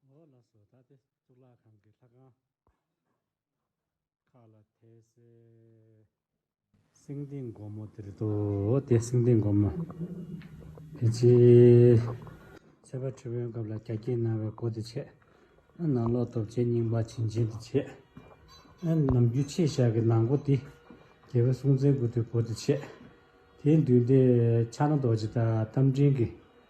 ངོ་ལ་བཟོ་ལྟ་སྟེ་གཙུག་ལག་ཁང་གི་ལྷ་ཁང་ཁག་ལ་དད་སེ། སེང་ལྡེང་སྒོ་མོ་དེར་འདུག་སྟེ་སེང་ལྡེང་སྒོ་མོ། དེ་རྗེས་ཚེ་དཔའ་ཁྲི་བོན་སྐབས་ལ་རྒྱ་སྐྱེགས་གནང་བའི་སྒོ་དེ་ཕྱེས། ནང་ལོག་སྟོབས་ཆེན་རྙིང་པ་བྱིན་ཆེན་དེ་ཕྱེས། ནམ་རྒྱུན་ཆེས་ཞག་གི་ནང་སྒོ་དེ། རྒྱལ་བོའི་སྲོང་བཙན་སྐུ་དེའི་སྒོ་དེ་ཕྱེས། དེའི་མདུན་དེ་ཕྱག་ན་རྡོ་རྗེ་དང་རྟ་མགྲིན་གྱི་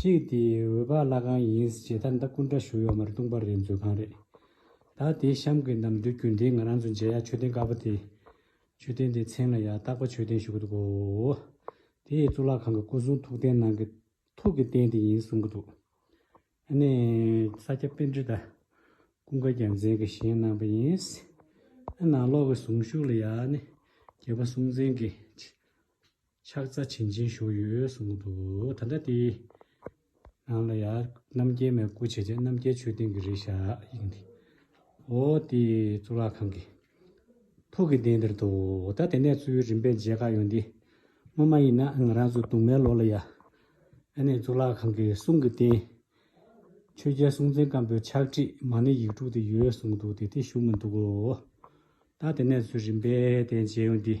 གཅིག་དེ་འོད་པ་བླ་གང་ཡིན་ཟེར་ཇི་ལྟར་མདའ་སྐུ་འདྲ་བཞུགས་ཡོད་མ་རེད་ལྟུང་བ་རེད་མཛོད་ཁང་རེད་ད་དེ་གཤམ་གྱི་ནམ་དུས་རྒྱུན་ལྡན་ང་རང་ཚོ་མཇལ་ཡག་མཆོད་རྟེན་དཀར་པོ་དེ། མཆོད་རྟེན་དེའི་མཚན་ལ་ཡག་རྟག་པ་མཆོད་རྟེན་ཞུ་གི་འདུག་གོ། དེ་ཡི་གཙུག་ལག་ཁང་གི་སྐུ་གསུང་ཐུགས་རྟེན་ནང་གི་ཐུགས་ཀྱི་རྟེན་དེ་ཡིན་གསུང་གི་འདུག་ཨ་ནི། ས་སྐྱ་དཔེ་འབྲི་དང་ཀུན་དགའ་རྒྱལ་མཚན་གྱིས་བཞེངས་གནང་བ་ཡིན། ཨ་ནང་ལོགས་ཀྱི་གཟུངས་གཞུག་ལ་ཡང་ནི་རྒྱལ་པོ་སྲོང་བཙན་གྱིས། ཕྱག་རྩ་བྱིན་ཅན་བཞུགས་ཡོད་གསུངས་འདུག་ད་ལྟ་དེའི་ནང་ལ་ཡང་རྣམ་རྒྱལ་མའི་སྐུ་བྱས་རྗེས་རྣམ་རྒྱལ་ཆོས་སྡིངས་ཀྱི་རིགས་ཞག་ཡིན། འོ་དེ་གཙུག་ལག་ཁང་གི་ཕུག་གི་གདན་དེར་འདུག་ད་དེ་ནས་གཙོས་རིམ་པས་མཇལ་ཁ་ཡོང་དུས་སྔོན་མ་ཡིན་ན་ང་རང་ཚོ་དུང་མའི་ལོགས་ལ་ཡ་ཨ་ནས་གཙུག་ལག་ཁང་གི་གསུང་གི་རྟེན་ཆོས་རྒྱལ་སྲོང་བཙན་སྒམ་པོའི་ཕྱག་བྲིས་མ་ནི་ཡིག་དྲུག་དེ་ཡོད་གསུངས་འདུག་དེ་དེ་བཞུགས་མི་འདུག་གོ། ད་དེ་ནས་གཙོས་རིམ་པས་དེ་མཇལ་ཡོང་དུས།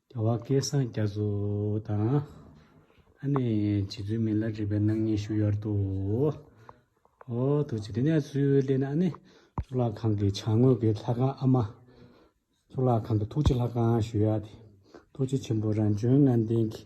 རྒྱལ་བ་སྐལ་བཟང་རྒྱ་མཚོ་དང། ཨ་ནེ་རྗེ་བཙུན་མི་ལ་རིག་པའི་སྣང་བརྙན་བཞུགས་ཡོར་དུ། ཨོ་རྡོ་རྗེ་དེ་ནས་ཚུལ་གླེང་ན་ཨ་ནེ། གཙུག་ལག་ཁང་གི་བྱང་ངོས་ཀྱི་ལྷ་ཁང་ཨ་མ། གཙུག་ལག་ཁང་གི་ཐུགས་རྗེ་ལྷ་ཁང་ཞུ་ཡག་དེ། རྡོ་རྗེ་ཆེན་པོ་རང་བྱོན་ལྔ་ལྡན་གྱི།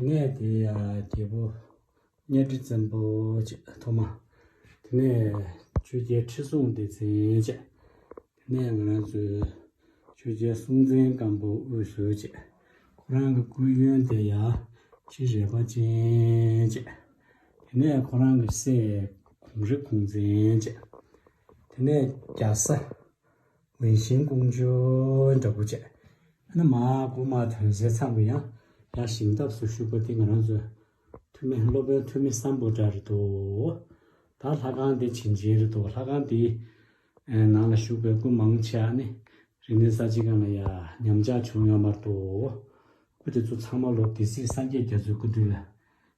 དེ་ནས་དེ་ཡང་རྒྱལ་པོ་གཉའ་ཁྲི་བཙན་པོ་བཅས་ཐོག་མ། དེ་ནས་ཆོས་རྒྱལ་ཁྲི་སྲོང་ལྡེ་བཙན་བཅས། དེ་ནས་ང་རང་ཚོའི་ཆོས་རྒྱལ་སྲོང་བཙན་སྒམ་པོ་དབུས་སུ་བཅས། ཁོ་རང་གི་སྐུའི་གཡོན་དེ་ཡང་ཁྲི་རལ་པ་ཅན་བཅས། དེ་ནས་ཁོ་རང་གི་སྲས་གོང་རི་གོང་བཙན་བཅས། དེ་ནས་རྒྱ་བཟའ། ཝུན་ཤིན་ཀུང་ཇོ་འདྲ་པོ་བྱས། ཨ་ན་མ་ཀུ་མ་དོན་གསལ་ཚང་གི་ཡང་ཡང་ཞིང་སྟབས་སུ་བཞུགས་པ་འདི་ང་རང་ཚོའི་འཐུས་མི་སློབ་དཔོན་འཐུས་མི་བསམ་པོ་འདྲ་རེད་འདུག་ད་ལྷ་ཁང་དེ་བྱིན་ཆེན་རེད་འདུག་ལྷ་ཁང་དེའི་ནང་ལ་བཞུགས་པའི་སྐུ་མང་ཆེ་བ་ནི་རིག་གནས་གསར་བརྗེ་གང་ལ་ཡ་ཉམས་ཆག་བྱུང་ཡོད་མར་འདུག་སྐུ་དེ་ཚོ་ཚང་མ་ལོ་དེ་སྲིད་སངས་རྒྱས་རྒྱ་མཚོའི་སྐུ་དུས་ལ་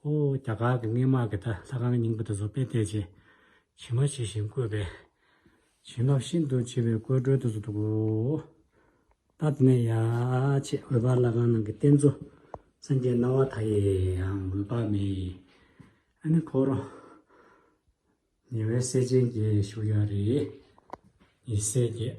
ཧོ། རྒྱ་གར་གྱི་སྔས་དམག་གིས་ད་ལྷ་ཁང་རྙིང་པ་དེ་ཚོ་དཔེ་བལྟས་རྗེས། བྱིན་རླབས་ཇི་བཞིན་བཀོད་པས། བྱིན་རླབས་ཤིན་ཏུ་ཆེ་བའི་བཀོད་བཀྲོལ་དུ་སུ་འདུག་གོ། ད་དེ་ནས་ཡ། ཆེས་འོད་འབར་ལྷ་ཁང་ནང་གི་རྟེན་གཙོ། སངས་རྒྱས་སྣང་བ་དག་ཡེའང་འོད་དཔག་མེད། ཨ་ནི་ཕོ་རོ། ཉེ་བའི་སྲས་ཆེན་གྱིས་བཞུགས་ཡ་རེ། ཡེ་སྲས་བརྒྱད།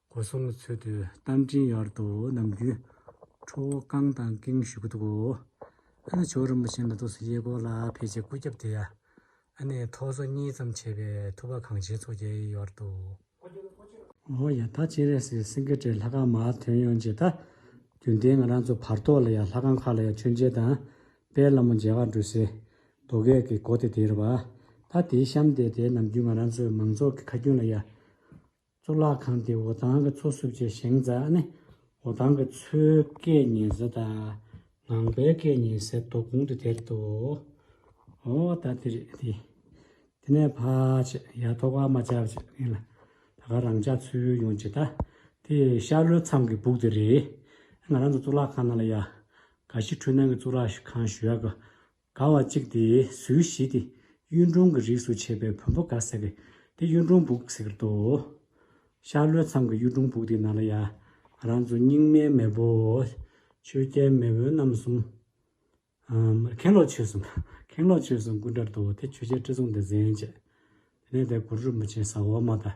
སྒོ་སྲུང་གི་ཚུལ་དུ་རྟ་མགྲིན་གཡོར་དུ་གནམ་རྒྱུའི་ཁྲོ་བོ་རྐང་དང་ཀེང་ཞུ་གུ་དུག་གོ། ཨ་ནི་ཕྱོགས་རིན་པོ་ཆེ་འདི་དུག་སེལ་གཡས་སྐོར་ལ་ཕལ་ཆེར་སྐུ་རྒྱབ་དེ་ཡ། ཨ་ནི་ཐོག་སོ་གཉིས་ཙམ་ཕྱེས་པའི་ཐུབ་པ་གངས་ཆེན་ཚོགས་བརྒྱད་གཡོར་དུ། ཨོ་ཡ་ད་སྤྱན་རས་གཟིགས་སེང་གེ་སྤྲེལ་ལྷ་ཁང་མ་ཐོན་ཡོང་རྗེས་ད། རྒྱུན་ལྡན་ང་རང་ཚོ་བར་ཐོག་ལ་ཡ་ལྷ་ཁང་ཁག་ལ་ཡ་མཆོད་མཇལ་དང། དཔལ་ལ་མོ་མཇལ་ཁ་འགྲུལ་སའི། རྡོ་སྐས་ཀྱི་སྒོ་དེ་དེར་བ། ད་དེའི་གཤམ་དེ་དེའི་ནམ་རྒྱུན་ང་རང་ཚོས་མང་ཚོགས་ཀྱི་ཁ་རྒྱུན་ལ་ཡ། གཙུག་ལག་ཁང་དེ་འོ་ཐང་གི་མཚོ་བསྲུབས་རྗེས་བཞེངས་རྫ་ཨ་ནེ་འོ་ཐང་གི་མཚོའི་སྐད་ཉེ་ཟེར་དང་ངང་པའི་སྐད་ཉེ་ཟེར་དོ་གུང་དུ་དེར་དུ་འོ་ད་དེ་རེད་དེ། དེ་ནས་ཕ་ཆེ་ཡ་ཐོ་ཀ་མ་ཅག་ཅེས་ངེད་ལ་ད་ག་རང་ཅག་ཚུར་ཡོང་ཇི་ལྟ་དེ་ཤར་ལྷོའི་མཚམས་ཀྱི་སྦུག་དེ་རེད། ང་རང་ཚོ་གཙུག་ལག་ཁང་ནང་ལ་ཡ། ག་ཤི་འཕྲུལ་སྣང་གི་གཙུག་ལག་ཁང་ཞུ་ཡ་གི་ག་བ་གཅིག་དེ་ཟུའི་གཞི་དེ་གཡུ་འབྲུག་གི་རིགས་སུ་ཆད་པའི་བོན་པོ་ག་ཟེར་གི་དེ་གཡུ་འབྲུག་འབུག་ཟེར་ཏོ། ཤར་ལྷོའི་མཚམས་ཀྱི་གཡུ་འབྲུག་འབུག་དེ་ན་ལ་ཡ། རང་ཚོ་རྙིང་མའི་མེས་པོ། ཆོས་རྒྱལ་མེས་བོན་རྣམ་གསུམ། མཁན་སློབ་ཆོས་སྲུང། མཁན་སློབ་ཆོས་སྲུང་སྐུ་འདྲར་འདུག་དེ་ཆོས་རྒྱལ་ཁྲི་སྲོང་ལྡེ་བཙན་བཅས། དེ་ནས་དེ་གུ་རུ་རིན་པོ་ཆེ་ཟ་འོག་མ་དང།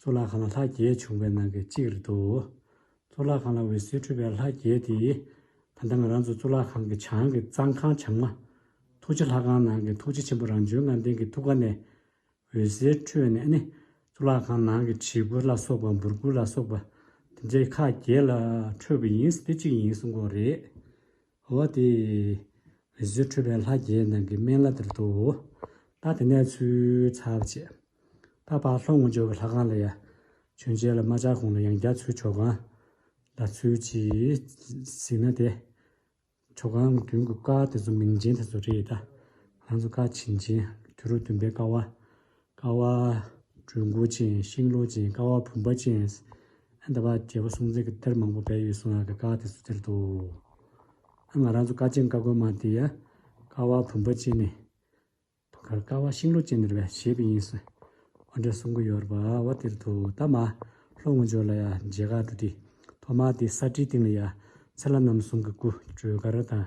གཙུག་ལག་ཁང་ལ་ལྷ་བརྒྱད་བྱུང་བའི་ནང་གི་གཅིག་རེད་དོ། གཙུག་ལག་ཁང་ལ་འོད་ཟེར་འཕྲོས་པའི་ལྷ་བརྒྱད་དེས། ད་ལྟ་ང་རང་ཚོ་གཙུག་ལག་ཁང་གི་བྱང་གི་གཙང་ཁང་བྱང་མ། ཐུགས་རྗེ་ལྷ་ཁང་ནང་གི་ཐུགས་རྗེ་ཆེན་པོ་རང་བྱོན་ངང་ལྡན་གྱི་ཐུགས་ཀ་ནས། འོད་ཟེར་འཕྲོས་ནས་ནི། གཙུག་ལག་ཁང་ནང་གི་བྱི་གུར་ལ་སོགས་པ་འབུར་གུར་ལ་སོགས་པ། དེ་འདྲའི་ཁག་བརྒྱད་ལ་འཕྲོས་པ་ཡིན། དེ་གཅིག་ཡིན་གསུང་གོ་རེད། ཧོ། དེ་རེས་སུ་ཁྲོས་པའི་ལྷ་བརྒྱད་ནང་གི་སྨན་བླ་དིར་དོའོ། ད་དེ་ནས་ཚུལ་ཚར་བྱས། དཔའ་བག་ལྷོ་ངོ་འཇོ་བའི་ལྷ་ཁང་ལ་ཡ། བྱོན་བྱས་ལ་རྨ་བྱ་གོང་ལ་ཡང་རྒྱ་མཚོའི་ཆོ་ག། ལ་ཚུལ་གྱིས་གཟིགས་ན་དེ། ཆོ་གའང་མདུན་གྱི་བཀའ་དེ་ཚོ་མིང་ཅན་དེ་ཚོ་རེད་ད། ང་ཚོ་བཀའ་བྱིན་ཅན། དུས་རབས་བདུན་པའི་བཀའ་བ། ཀ་བ་གྲུ་འགོ་ཅན་ཤིང་ལོ་ཅན་ཀ་བ་བུམ་པ་ཅན། ཨེ་འདི་བ་རྒྱལ་པོ་སྲོང་བཙན་གྱི་གཏེར་མང་པོ་སྦས་ཡོད་གསུང་ཡ་གི་ཀ་བ་དེ་ཚོ་སྟེར་ཏོ། ཨ་ང་རང་ཚོ་ཀ་ཅན་ཀ་གོན་མ་དེ་ཡ་ཀ་བ་བུམ་པ་ཅན་ནས། དུང་དཀར་ཀ་བ་ཤིང་ལོ་ཅན་ནས་རེད་པས་བྱས་པས་ཡིན་གསུང། ཨོ་འདྲ་གསུང་གི་ཡོད་རེད་པ་བ་སྟེར་ཏོ་ད་མ་ལྷོ་ངོས་འཇོག་ལ་ཡ་མཇལ་ཁ་གྲུ་དེ་ཐོག་མ་དེ་ས་བྲིས་སྟེང་ལ་ཡ་ཚེ་ལ་ནམ་གསུང་གི་སྐུ་བགྲོས་ག་རེ་དང།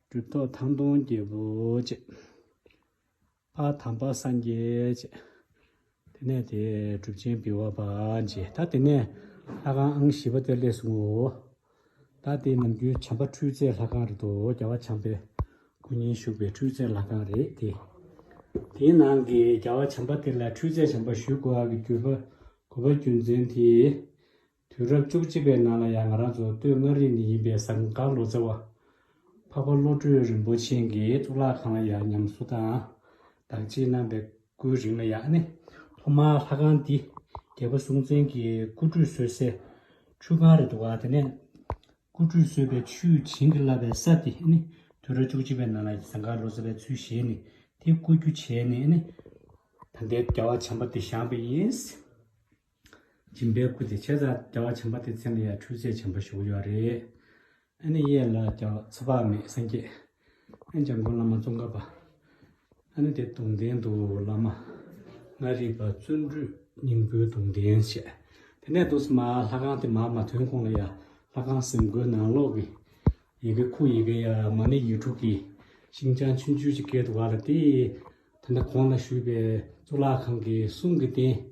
གྲུབ་ཐོབ་ཐང་སྟོང་རྒྱལ་པོ་བཅས། ཕ་དམ་པ་སངས་རྒྱས་བཅས། དེ་ནས་དེས་གྲུབ་ཆེན་བི་བ་པ་མཆེད་ད་དེ་ནས་ལྷ་ཁང་ཨང་བཞི་པ་དེར་སླེབས་སོང་ངོ། ད་དེ་ནམ་རྒྱུན་བྱམས་པ་འཕྲུལ་རྩལ་ལྷ་ཁང་རེད་དོ་རྒྱལ་བ་བྱམས་པའི་སྐུ་ཉིད་བཞུགས་པའི་འཕྲུལ་རྩལ་ལྷ་ཁང་རེད་དེ། དེའི་ནང་གི་རྒྱལ་བ་བྱམས་པ་དེ་ལ་འཕྲུལ་རྩལ་བྱམས་པ་ཞུས་གོ་བ་གི་གུས་པ་གུས་པ་རྒྱུ་མཚན་དེས། དུས་རབས་བཅུ་གཅིག་པའི་ནང་ལ་ཡང་ང་རང་ཚོ་སྟོད་མངའ་རིས་ནས་ཡིན་པའི་ཟངས་དཀར་ལོ་ཙཱ་བ། འཕགས་པ་བློ་གྲོས་རིན་པོ་ཆེན་གྱི་གཙུག་ལག་ཁང་ལ་ཡང་ཉམས་གསོ་དང་བདག་གཅེས་གནང་པའི་སྐུའི་རིང་ལ་ཡང་ནི་ཐོག་མར་ལྷ་ཁང་འདི་རྒྱལ་པོ་སྲོང་བཙན་གྱི་སྐུ་ཁྲུས་གསོལ་སའི་ཁྲུས་ཁང་རེད་འདུག་དེ་ནས་སྐུ་ཁྲུས་གསོལ་བའི་ཆུས་བྱིན་གྱིས་བརླབས་པའི་ས་དེ་ནི་དུས་རབས་བཅུ་གཅིག་པའི་ནང་ལ་ཟངས་དཀར་ལོ་ཙཱ་བའི་ཚུལ་བཞེས་ནས་དེ་བརྐོ་རྒྱུ་བྱས་ནས་ནི། ད་ལྟའི་རྒྱལ་བ་བྱམས་པ་འདི་བཞེངས་པ་ཡིན། སྦྱིན་པའི་སྐུ་དེ་བྱས་ཙང་བདེ་བ་ཆེན་པོ་དེ་མཚན་ལ་ཡང་འཕྲུལ་ཆས་ཆེན་པོ་ཞུགས་ཡོད་རེད། ཨ་ནི་གཡས་ལ་ཀྱང་ཚོད་དཔག་མེད་སངས་རྒྱས་ཨན་བྱང་དགོན་བླ་མ་ཙོང་ཁ་པ། ཨ་ནི་དེ་དུང་ལྡན་དུ་བླ་མ་ལྔ་རིག་པ་བརྩོན་འགྲུས་སྙིང་པོའི་དུང་ལྡན་བཤད། དེ་ནས་དུ་སི་མ་ལྷ་ཁང་དེ་མ་མ་ཐོན་གོང་ལ་ཡང་ལྷ་ཁང་གསེང་སྒོའི་ནང་ལོགས་ཀྱི་ཡི་གེ་ཁུག་ཡི་གེ་ཡ་མ་ནི་ཡིག་དྲུག་གི་ཤིང་བྱང་ཆུ་འཇུས་ཀྱི་སྐད་དུ་བ་ལ་དེ། དེ་འདྲ་གོང་ལ་ཞུས་པའི་གཙུག་ལག་ཁང་གི་གསུང་གི་རྟེན།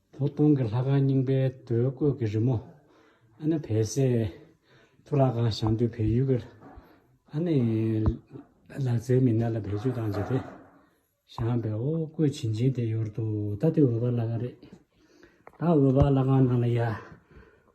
བོ་སྟོང་གི་ལྷ་ཁང་རྙིང་པའི་དུས་བརྐོས་ཀྱི་རི་མོ། ཨ་ནི་བལ་སའི་མཐོ་རགས་ཁང་ཞང་དུས་བལ་ཡུལ་གྱི་ཨ་ནི་ལག་རྩལ་མི་སྣ་ལ་བེད་སྤྱོད་བཏང་རྗེས་དེ་ཞང་བལ་བོ་བརྐོས་བྱིན་ཅིང་དེ་ཡོར་དུ་ད་ལྟའི་འོད་འབར་ལྷ་ཁང་རེད། ད་འོད་འབར་ལྷ་ཁང་ནང་ལ་ཡ།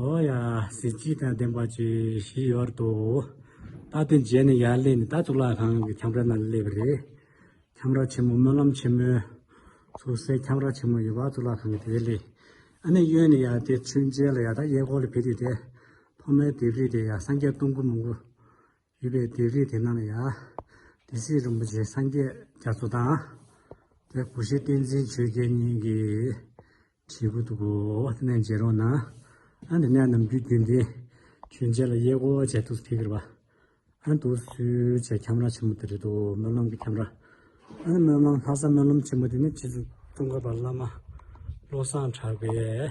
ཧོ་ཡ། གཟི་བརྗིད་དང་ལྡན་པ་བཅས་བཞི་ཡོད་དོ། རྟགས་དེ་མཇལ་ནས་ཡར་སླེབས་ནས་ད་གཙུག་ལག་ཁང་གི་ཁྱམས་ར་ན་སླེབས་པ་རེད། ཁྱམས་ར་ཆེན་མོ་སྨོན་ལམ་ཆེན་མོའི། ཚུར་གསལ་ཁྱམས་ར་ཆེན་མོ་ཡོད་པ་གཙུག་ལག་ཁང་གི་དེའི་སླད། ཨ་ནེ་གཡོན་ནས་ཡར་དེ་ཚུན་མཇལ་ལ་ཡར་ད་གཡས་སྐོར་ལ་ཕེབས་དུས་དེ། ཐོག་མའི་ལྡེབས་རིས་དེ་ཡང་སངས་རྒྱས་སྟོང་སྐུ་མང་པོ། ཡོད་པའི་སྡེ་རིས་དེ་རྣམས་ལ་ཡང། དེ་སྲིད་རིན་པོ་ཆེ་སངས་རྒྱས་རྒྱ་མཚོ་དང། དེ་སྐུ་ཤེས་བསྟན་འཛིན་ཆོས་རྒྱལ་གཉིས་ཀྱི། བྲིས་སྐུ་འདུག་གོ་དེ་ནས་མཇལ་རོགས་གནང། ཨ་འདི་ནས་ནམ་རྒྱུན་རྒྱུན་ལྡན། ཁྱོད་ཅག་ལ་དབྱེ་སྒོ་བྱས་འདུག་ཐུགས་ཁེར་བ། ཨ་འདུག་གསོལ་བྱས་ཁྱམས་ར་ཆེན་མོ་དེ་རེད་འདུག་སྨོན་ལམ་གྱི་ཁྱམས་ར། ཨ་ནི་སྨོན་ལམ་ལྷ་ས་སྨོན་ལམ་ཆེན་མོ་དེ་ནི་ཕྱིས་སུ་ཙོང་ཁ་པ་བླ་མ་བློ་བཟང་གྲགས་པས།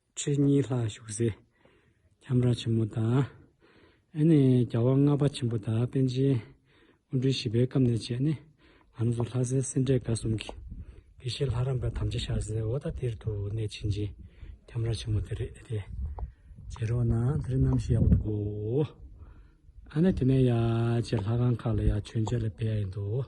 ཁྲི་གཉིས་ལྷག་བཞུགས་སའི་ཁྱམས་ར་ཆེན་མོ་དང། ཨེ་ནས་རྒྱལ་བ་ལྔ་པ་ཆེན་པོ་དང་པཎ་ཆེན་དབོན་སྤྲུལ་བཞི་པའི་སྐབས་ནས་བྱས་ནས་ང་རང་ཚོ་ལྷ་སའི་སེ་འབྲས་དགའ་གསུམ་གྱི་དགེ་བཤེས་ལྷ་རམས་པ་དམ་བཅའ་ཤར་སའི་ཨོ་ད་ཏིར་དུ་གནས་ཕྱིན་ཅིང་ཁྱམས་ར་ཆེན་མོ་དེ་རེད་དེ། བྱེད་རོགས་གནང་དེ་རིང་གནམ་གཤིས་ཡག་པོ་འདུག་གོ། ཨ་ནས་དེ་ནས་ཡ་ཆེ་ལྷ་ཁང་ཁག་ལ་ཡང་མཆོད་མཇལ་ལ་ཕེབས་ཡ་ཡིན་འདུག།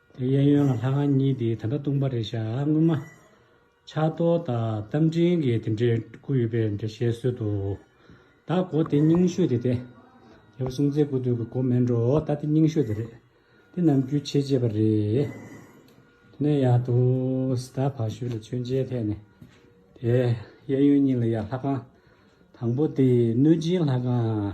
དེ་གཡས་གཡོན་ལ་ལྷ་ཁང་གཉིས་དེ་ད་ལྟ་སྟོང་པ་རེད་ཤག་སྔོན་མ། ཕྱག་རྡོར་དང་རྟ་མགྲིན་གྱི་དེ་འདྲའི་སྐུ་ཡོད་པའི་འདྲ་བཤད་སྲོལ་འདུག་ད་གོ་དེ་རྙིང་ཤོས་དེ་རེད། རྒྱལ་པོ་སྲུང་བཙན་སྐུ་དུས་ཀྱི་གོ་མེད་འགྲོ་ད་དེ་རྙིང་ཤོས་དེ་རེད། དེ་རྣམས་རྒྱུད་ཆེ་བྱས་པ་རེད། དེ་ནས་ཡང་དུ་ཟླ་བ་ཞོལ་ལ་མཆོད་མཇལ་ཐད་ནས་དེ་གཡས་གཡོན་གཉིས་ལ་ཡང་ལྷ་ཁང་དང་པོ་དེ་གནོད་སྦྱིན་ལྷ་ཁང།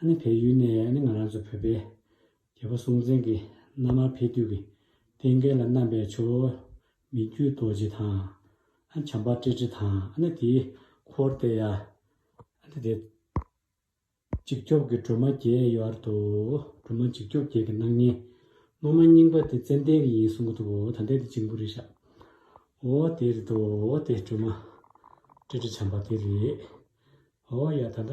ཨ་ནི་བལ་ཡུལ་ནས་ཨ་ནི་ང་རང་ཚོ་བོད་པའི་རྒྱལ་པོ་སྲོང་བཙན་གྱི་མནའ་མར་ཕེབས་དུས་ཀྱི་རྟེན་སྐལ་ལ་བསྣམས་པའི་ཆུ་བོ་མི་བརྒྱུད་རྡོ་རྗེ་དང། ཨ་ནི་བྱམས་པ་ཀྲི་ཀྲི་དང་ཨ་ནི་དེའི་འཁོར་སྟེ་ཡ། ཨ་ནི་དེ། འཇིགས་སྐྱོབ་ཀྱི་སྒྲོལ་མ་བརྒྱད་ཡོད་ཨར་དུ་སྒྲོལ་མ་འཇིགས་སྐྱོབ་བརྒྱད་ཀྱི་སྣང་བརྙན། སློབ་མ་རྙིང་པ་དེ་ཙན་དན་གྱི་ཡིན་གསུང་གི་འདུག་འོ་ད་འདི་དེ་འཇིང་པོ་རེད་ཤག། འོ་དེ་རེད་འདུག་འོ་དེ་སྒྲོལ་མ་ཀྲི་ཀྲི་བྱམས་པ་དེ་རེད། འོ་ཡ་ད་ད།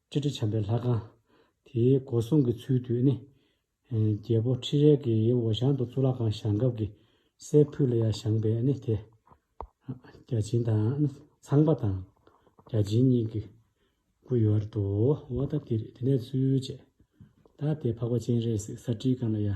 སྤྱི་དྲིལ་བྱམས་པའི་ལྷ་ཁང། དེའི་སྒོ་སྲུང་གི་ཚུལ་དུ་ནི། རྒྱལ་པོ་ཁྲི་རལ་གྱི་ཡི་འོ་ཞང་དུ་གཙུག་ལག་ཁང་བཞེངས་སྐབས་ཀྱི་སའི་ཕུད་ལ་ཡ་བཞེངས་པས་ནི་དེ། བརྒྱ་བྱིན་དང་ནི་ཚངས་པ་དང། བརྒྱ་བྱིན་གཉིས་ཀྱི་སྐུ་ཡོད་ར་དོའོ། འོ་ད་དེ་རེད་དེ་ནས་ཚུལ་བཅས། ད་དེ་འཕགས་པ་སྤྱན་རས་གཟིགས་ས་ཁྲིའི་སྒང་ལ་ཡ།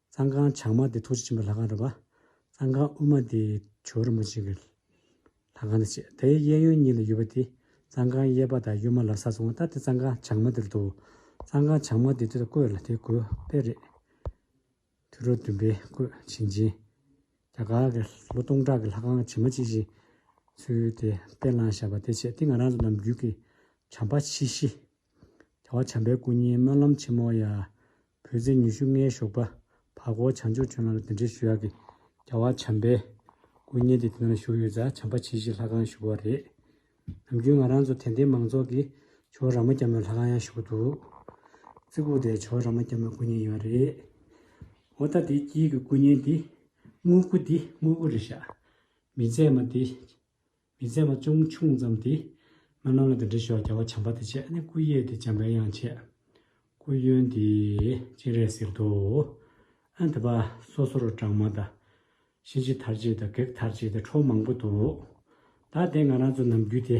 གཙང་ཁང་བྱང་མ་དེ་ཐུགས་རྗེ་ཆེན་པོའི་ལྷ་ཁང་རེད་པ། གཙང་ཁང་དབུས་མ་དེ་ཇོ་རིན་པོ་ཆེ་གི་ལྷ་ཁང་དང་བཅས་དེའི་གཡས་གཡོན་གཉིས་ལ་ཡོད་པ་དེ་གཙང་ཁང་གཡས་པ་དང་གཡོན་མ་ལ་ས་སོང་བ་ལྟར་དེ་གཙང་ཁང་བྱང་མ་དེར་འདུག་གཙང་ཁང་བྱང་མ་དེ་དུས་ད་བསྐོས་ལ་དེ་གོས་དཔེ་རེད། དུས་རབས་བདུན་པའི་བསྐོས་ཞིང་ཆེན་རྒྱ་གར་གི་ལོ་སྟོང་ཕྲག་གི་ལྷ་ཁང་བྱེ་མ་གཅིག་བཞེངས་ཚུལ་དེ་དཔེ་བླངས་བཞག་པ་དེ་བྱས་དེ་ང་རང་ལ་ནམ་རྒྱུན་གྱི་བྱམས་པ་མཆིས་ཤིང། བྱ་བ་བྱམས་པའི་སྐུ་བརྙན་སྨོན་ལམ་ཆེན་མོ་ཡ། བོད་ཟས་ཉི་ཤུ་ལྔའི་ཞོགས་པ། བར་སྐོར་བྱང་ཆུབ་ཆོས་ལམ་ལ་འདི་འདྲའི་ཞུ་ཡག་གི། རྒྱལ་བ་བྱམས་པས། སྐུ་བརྙན་དེ་དེ་ན་བཞུགས་ཡོད་ཙང་བྱམས་པ་བྱིལ་བྱིལ་ལྷ་ཁང་བཞུགས་པ་རེད། ནམ་རྒྱུན་ང་རང་ཚོ་དད་ལྡན་མང་ཚོགས་ཀྱིས་ཇོ་ར་མ་སྐྱ་མོའི་ལྷ་ཁང་ཡང་བཞུགས་འདུག། རྩི་ཁུག་དེ་ཇོ་ར་མ་སྐྱ་མོའི་སྐུ་བརྙན་ཡིན་བ་རེད། འོ་ད་དེའི་དཀྱིལ་གྱི་སྐུ་བརྙན་དེ། དངུལ་སྐུ་དེ་དངུལ་སྐུ་རེད་ཤག། མི་ཚད་མ་དེ། མི་བཙལ་བ་ཅུང་ཆུང་ཙམ་དེས། མི་རྣམས་ལ་འདི་འདྲི་ཞོག་བྱ་བ་བྱམས་པ་དེ་བྱས་ནས་སྐུ་གཡས་དེ་བྱམས་པའི་དབྱངས་བྱས། སྐུ་གཡོན་དེས་སྤྱན་རས་གཟིགས་མདོག་བོ། ཨ་འདི་པ་སོ་སོར་བགྲང་མ་དང། གཤིན་རྗེ་མཐར་བྱེད་དང་བགེགས་མཐར་བྱེད་དེ་ཁྲོ་མང་པོ་འདུག། ད་དེ་ང་རང་ཚོ་ནམ་རྒྱུན་དེ།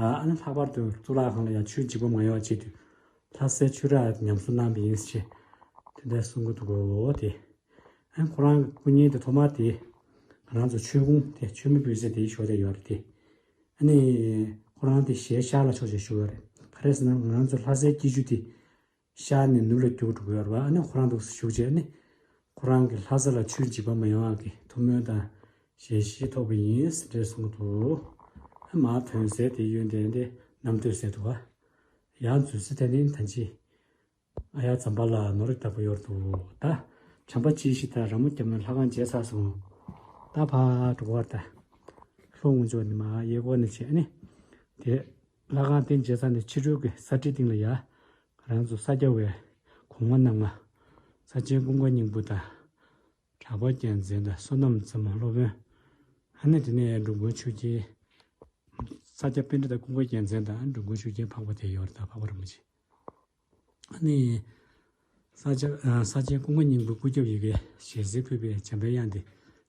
ཨ་ནི་ལྷག་པར་དུ་གཙུག་ལག་ཁང་ལ་ཡང་ཆུའི་འཇིགས་པ་མང་ཡོང་ཆེད་དུ་ལྷ་སའི་ཆུ་རགས་ཉམས་གསོ་གནང་བ་ཡིན་ཞེས་དེ་འདྲ་གསུང་གི་འདུག་གོ་དེ་ཨ་ཁོ་རང་གི་སྐུ་བརྙན་དེ་ཐོག་མར་དེ་ང་རང་ཚོ་ཆོས་གུང་དེ་ཆོས་མི་ཕུད་ཟེར་དེའི་ཕྱོགས་དེ་ཡོད་རེད་དེ་ཨ་ནི་ཁོ་རང་དེ་ཞལ་ཤར་ལ་ཕྱོགས་ཞེས་ཞུ་བ་རེད་ཁ་རས་ན་ང་རང་ཚོ་ལྷ་སའི་སྐྱིད་ཆུ་དེ། ཤར་ནས་ནུབ་ལ་རྒྱུག་འགྲོ་གི་ཡོད་པ་ནི་ཁོ་རང་འདུག་སར་ཞུགས་རྗེས་ནི། ཁོ་རང་གིས་ལྷ་ས་ལ་ཆུའི་འཇིགས་པ་མི་ཡོང་བ་གི་ཐུགས་སྨོན་དང་ཞལ་བཞེས་ཐོབ་ཀྱི་ཡིན་ཟེར་འདྲེ་གསུང་གི་འདུག། མ་ཐོན་ཟས་དེ་གཡོན་དེ་འདི་གནམ་སྟོད་ཟེར་འདུག། ཡང་མཛོད་སི་ཐན་ནི་ཐན་ཅི། ཨ་ཡག་ཛམ་པ་ལ་ནོར་རིགས་ལྟ་བུ་ཡོད་འདུག་ད། བྱམས་པ་སྐྱིད་ཤིག་ད་ར་མོ་སྐྱབས་ནི་ལྷ་ཁང་རྗེས་ཚར་སོང། ད་ཕ་གྲོ་གར་ད། ལྷོ་ངོས་མཆོག་ནི་མ་ཡེ་སྒོ་ནི་བྱེད་ནི། དེ། ལྷ་ཁང་རྟེན་མཇལ་ས་ནས་ཕྱི་རོལ་གྱི་ས་ཁྲིའི་སྟེང་ལ་ཡ་རང་ཚོ་ས་སྐྱ་བའི་གོང་མ་རྣམས་ལ། ས་ཆེན་ཀུན་དགའ་སྙིང་པོ་དང། གྲགས་པ་རྒྱལ་མཚན་དང་བསོད་ནམས་བཙུན་མ་སློབ་དཔོན། ཨ་ནེ་དེ་ནས་འགྲོ་མགོན་ཆོས་རྒྱལ། ས་སྐྱ་དཔེ་འདྲེ་དང་ཀུན་དགའ་རྒྱལ་མཚན་དང་འགྲོ་མགོན་ཆོས་རྒྱལ་འཕགས་པ་དེ་ཡོར་དང་འཕགས་པ་རིན་པོ་ཆེ། ས་སྤྱན་ཀུན་དགའ་སྙིང་པོའི་སྐུ་སྐྱབས་ཡི་གེ་ཞལ་གཟིགས་ཕུད་པའི་བྱམས་པའི་དབྱངས་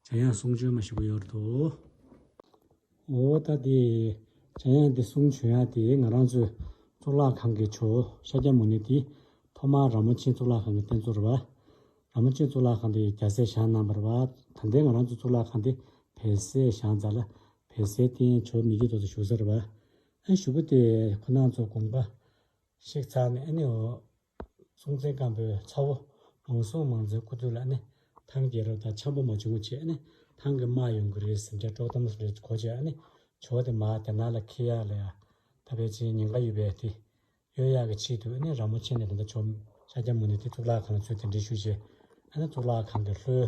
ཏེ་བྱ་ཡང་གསུང་བྱོན་མ་ཞིག་གོ་ཡོར་དུ། འོ་ད་དེ་བྱ་ཡང་དེ་གསུང་བྱོན་ཡང་དེ་ང་རང་ཚོའི་གཙུག་ལག་ཁང་གི་ཆོས་ཤཱཀྱ་མུ་ནེ་དེ་ཐོག་མར་ར་མོ་ཆེན་གཙུག་ལག་ཁང་གི་རྟེན་གཙོ་རུ་བ། ར་མོ་ཆེན་གཙུག་ལག་ཁང་དེ་རྒྱ་སྲས་ཞང་རྣམ་པར་བ་དང་ལྡན་ང་རང་ཚོའི་གཙུག་ལག་ཁང་དེ་བལ་སྲས་ཞང་ཛཱ་ལ་བལ་སྲས་རྟེན་མཆོག་མི་རྒྱུད་དོ་དུ་བཞུགས་ས་རུ་བ། ཨ་བཞུགས་པོ་དེ་ཁོ་ནང་ཚོ་དགོངས་པ། གཤེགས་ཚར་ནས་ཨ་ནེ་འོ། སྲོང་བཙན་སྒམ་པོའི་ཚ་བོ། མང་སྲོང་མང་མཛོད་ཁུ་ཐུ་ལ་ཨ་ནེ། ཐང་རྒྱལ་རབས་དང་འཆམ་པོ་མ་བྱུང་ཆེད་ཨ་ནེ། ཐང་གི་དམག་ཡོང་གི་རེད་ཟེར་འདྲ་དཀྲོག་གཏམ་རེ་གོ་ཆེད་ཨ་ནེ། ཇོ་དེ་མ་དེ་ན་ལ་ཁེ་ཡག་ལ་ཡ། ད་པེ་ཅིན་ཉེན་ཁ་ཡོད་པས་དེ། གཡོལ་ཡག་གི་ཆེད་དུ་ཨ་ནེ་ར་མོ་ཆེ་ནས་དེ་འདྲ་བྱོས། ཤཱཀྱ་མུ་ནེ་དེ་གཙུག་ལག་ཁང་ལ་ཚུད་དེ་འདྲི་ཞུ་བྱེད་ཨ་ནེ་གཙུག་ལག་ཁང་གི་ལྷོའི།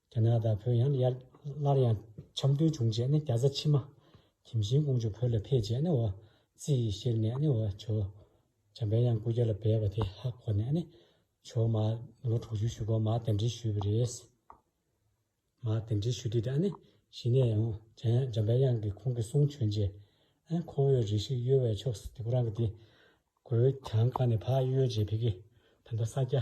རྒྱ་ནག་དང་བོད་ཡང་ཡར་སླར་ཡང་འཆམ་མཐུན་བྱུང་རྗེས་ནི་རྒྱ་བཟའ་ཕྱི་མ་གྱིམ་ཤིང་ཀོང་ཇོ་བོད་ལ་ཕེབས་རྗེས་ནི་བ་ཙི་ཡི་གཤེགས་ནས་ནི་བ་ཇོ་བྱམས་པས་ཡང་སྐུ་རྒྱ་ལ་བས་པ་དེ་ཧ་གོ་ནས་ནི་བྱོ་མ་ལོ་དྲུག་ཅུའི་ཞུ་གོ་མ་དེ་འདྲི་ཞུས་པ་རེད། མ་དེ་འདྲི་ཞུས་དེ་དག་ནི་གཞི་ནས་ཡང་རྒྱ་ཡང་འཇམ་པའི་དབྱངས་ཀྱི་ཁོང་གི་གསུང་བྱོན་རྗེས་ཨེ་ཁོ་བོའི་རིགས་ཤིག་གཡོ་བའི་ཕྱོགས་སུ་དེ་ཁོ་རང་གི་དེ་གོའི་གྱང་ཁ་ནས་ཕར་གཡོས་རྗེས་བི་གི་བོན་པོ་ས་སྐྱ